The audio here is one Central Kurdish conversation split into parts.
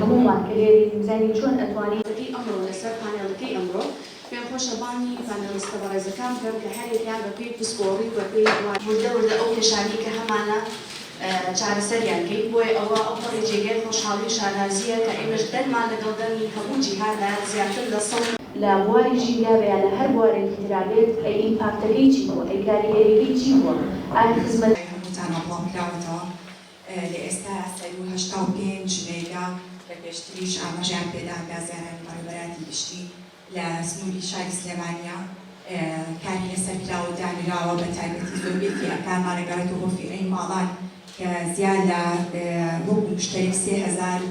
هەموومان کە لێرەین دەزانین چۆن ئەتوانین. ی ئەمڕۆ لەسەر پانێڵەکەی ئەمڕۆ پێم خۆشە بانگی پانێڵیستە بەڕێزەکان بکەم کە هەر یەکیان بە پێی پسپۆڕی و بە پێی وردە وردە ئەو کێشانەی کە هەمانە چارەسەریان کەین بۆیە ئەوە ئەو پەڕی جێگای خۆشحاڵی و شانازییە کە ئێمەش دەنگمان لەگەڵ دەنگی هەموو جیهاندا زیاتر لە سەد لە بواری ژینگا بێ یا لە هەر بوارێکی ترا بێت ئەی ئیمپاکتەکەی چی بووە ئەی کاریگەریەکەی چی بووە ئایا خزمەت. ی هەمووتانە بڵاوکراوەتەوە لە ئێستا سەروو هەشتا و پێنج مێگا، لە پێشتریش ئاماژەیان پێدا گازیارانی بەڕێوەبەراتی گشتی لە سنووری شاری سلێمانییە کاری لەسەر کراوە و دانراوە، بە تایبەتی زۆربەیەکی ئەکارمان ئەگەڕێتەوە بۆ فیرەی ماڵان کە زیاد لە وەکو مشتەری سێ هەزار و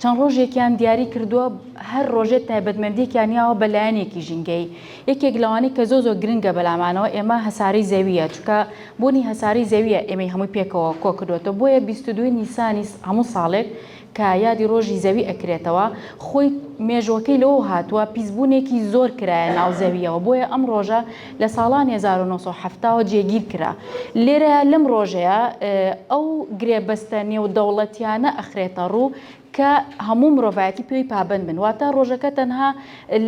چەند ڕۆژێکیان دیاری کردووە هەر ڕۆژێ تایبەتمەندیەکیان یاوە بە لایەنێکی ژینگەیی یەکێک لەوانەی کە زۆ زۆ گرنگە بەلامانەوە ئێمە هەسارەی زەویە چونکە بوونی هەسارەی زەویە ئێمەی هەمووی پێکەوە کۆ کردوەتەوە بۆیە بیست و دوو نیسانی هەموو ساڵێک کە یادی ڕۆژی زەوی ئەکرێتەوە خۆی مێژوەکەی لەوەوە هاتووە پیس بوونێکی زۆر کرایە ناو زەویەوە بۆیە ئەم ڕۆژە لە ساڵانی هەزار و نۆ سەد و حەفتا وە جێگیر کرا. لێرەیا لەم ڕۆژەیا ئەو گرێبەستە نێودەوڵەتیانە ئەخرێتە ڕوو کە هەموو مرۆڤایەتی پێوەی پابەند بن. واتە ڕۆژەکە تەنها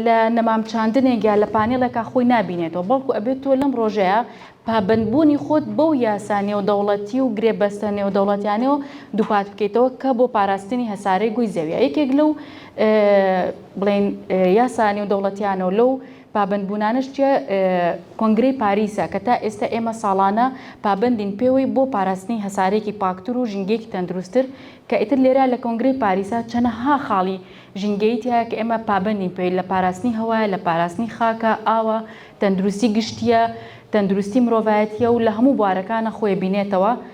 لە نەمام چاندنێک یا لە پانێڵێکا خۆی نابینێتەوە بەڵکو ئەبێ تۆ لەم ڕۆژەیا پابەند بوونی خۆت بەو یاسا نێودەوڵەتی و گرێبەستە نێودەوڵەتیانەوە دووپات بکەیتەوە کە بۆ پاراستنی هەسارەی گۆی زەویە یەکێک لەو بڵێن یاسا نێودەوڵەتیانەو لەو پابەندبوونانەش جیا کۆنگرەی پاریسە کە تا ئێستا ئێمە ساڵانە پابەندین پێوەی بۆ پاراستنی هەسارەیەکی پاکتر و ژینگەیەکی تەندروستتر کە ئیتر لێرە لە کۆنگرەی پاریسە چەنەها خاڵی ژینگەیی تیایە کە ئێمە پابەندین پێوەی لە پاراستنی هەوایە لە پاراستنی خاکە ئاوە تەندروستی گشتییە تەندروستی مرۆڤایەتییە و لە هەموو بوارەکانە خۆی بینێتەوە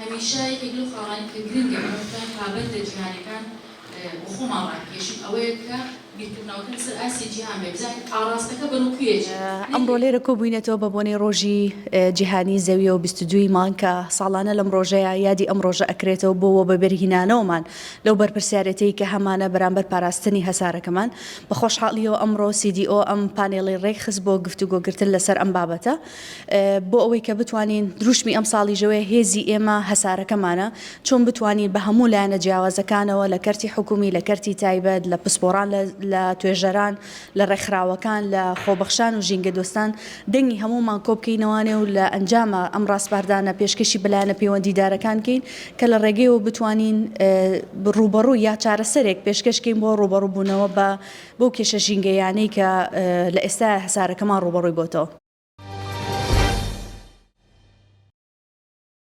هەمیشە یەکێک لەو خاڵانەی کە گرنگە ئێمە بتوانین پابەندە جیهانیەکان بۆ خۆمان ڕابکێشین ئەوەیە کە بیرکردنەوەکە لەسەر ئاستی جیهان بێت، بزانین ئاڕاستەکە بەرەو کوێ ئەچێت. ئەمڕۆ لێرە کۆبووینەتەوە بە بۆنەی ڕۆژی جیهانی زەویەوە و بیست و دوو ی مانگ کە ساڵانە لەم ڕۆژەیا یادی ئەم ڕۆژە ئەکرێتەوە بۆ وەبەبەرهینانەوەمان لەو بەرپرسیارێتیی کە هەمانە بەرامبەر پاراستنی هەسارەکەمان. بە خۆشحاڵیەوە ئەمڕۆ CDO ئەم پانێڵەی ڕێکخست بۆ گفتوگۆگرتن لەسەر ئەم بابەتە. بۆ ئەوەی کە بتوانین دروشمی ئەمساڵی ژەوێ هێزی ئێمە هەسارەکەمانە، چۆن بتوانین بە هەموو لایەنە جیاوازەکانەوە لە کەرتی حکومی، لە کەرتی تایبەت، لە پسپۆڕان، لە توێژەران، لە ڕێکخراوەکان، لە خۆبەخشان و ژینگەدۆستان دەنگی هەموومان کۆبکەینەوانێ و لە ئەنجاما ئەم ڕاسپاردانە پێشکەشی بە لایەنە پەیوەندیدارەکان کەین کە لە ڕێگەیەوە بتوانین ڕووبەڕووی یا چارەسەرێک پێشکەش کەین بۆ ڕووبەڕووبوونەوە بە بەو کێشە ژینگەییانەی کە لە ئێستایا هەسارەکەمان ڕووبەڕووی بۆتەوە.